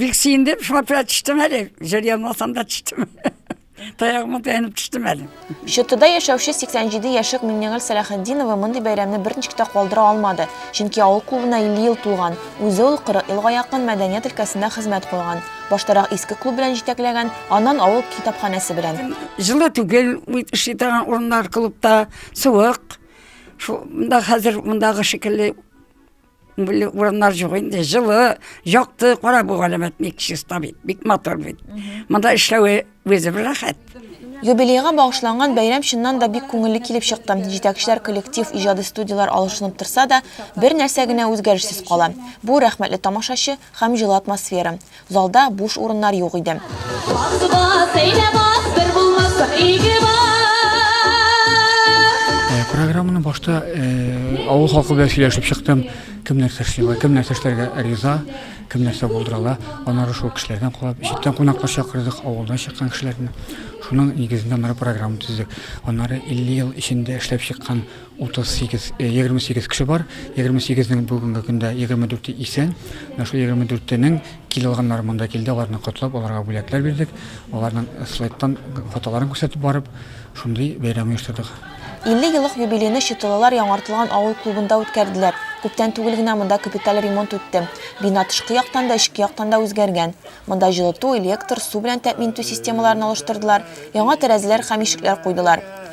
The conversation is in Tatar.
Бик сөендем, шуңа күрә төштем әле. Җыр язмасам да төштем. Таягыма таянып төштем әле. Чөтүдә яшәүче 87 яшьлек Миңнегөл Сәләхетдинова мондый бәйрәмне берничек тә калдыра алмады, чөнки авыл клубына 50 ел тулган, үзе ул 40 елга якын мәдәният өлкәсендә хезмәт куйган. Баштарак иске клуб белән җитәкләгән, аннан авыл китапханәсе белән. Җылы түгел, эшли торган урыннар клубта суык. Шунда хәзер мондагы шикелле Бүле урыннар җук инде, җылы, якты, кара бу галәмәт бик чиста бит, бик матур бит. Монда эшләве үзе бер рәхәт. Юбилейга багышланган бәйрәм чыннан да бик күңелле килеп чыкты. Җитәкчеләр коллектив иҗади студияләр алышынып торса да, бер нәрсә генә үзгәрешсез кала. Бу рәхмәтле тамашачы һәм җылы атмосфера. Залда буш урыннар юк иде. Программаны башта авыл халкы белән сөйләшеп чыктым. Кем нәрсә эшләгән, кем нәрсә эшләргә риза, кем нәрсә булдырала. Аннары шул кешеләрдән кулап, читтән кунаклар чакырдык, авылдан чыккан кешеләрне. Шуның нигезендә мына программа төздек. Аннары 50 ел эчендә эшләп чыккан 38, 28 кеше бар. 28-нең бүгенге көндә 24-е исән. Менә шул 24-тенең кил алганнары монда килде, аларны котлап, аларга бүләкләр бирдек. Аларның слайдтан фотоларын күрсәтеп барып, шундый бәйрәм оештырдык. 50 еллык юбилейны Чытылылар яңартылган авыл клубында үткәрделәр. Күптән түгел генә монда капиталь ремонт үтте. Бина тышкы яктан да, эчке яктан да үзгәргән. Монда җылыту, электр, су белән тәэмин итү системаларын алыштырдылар, яңа тәрәзәләр һәм ишекләр куйдылар.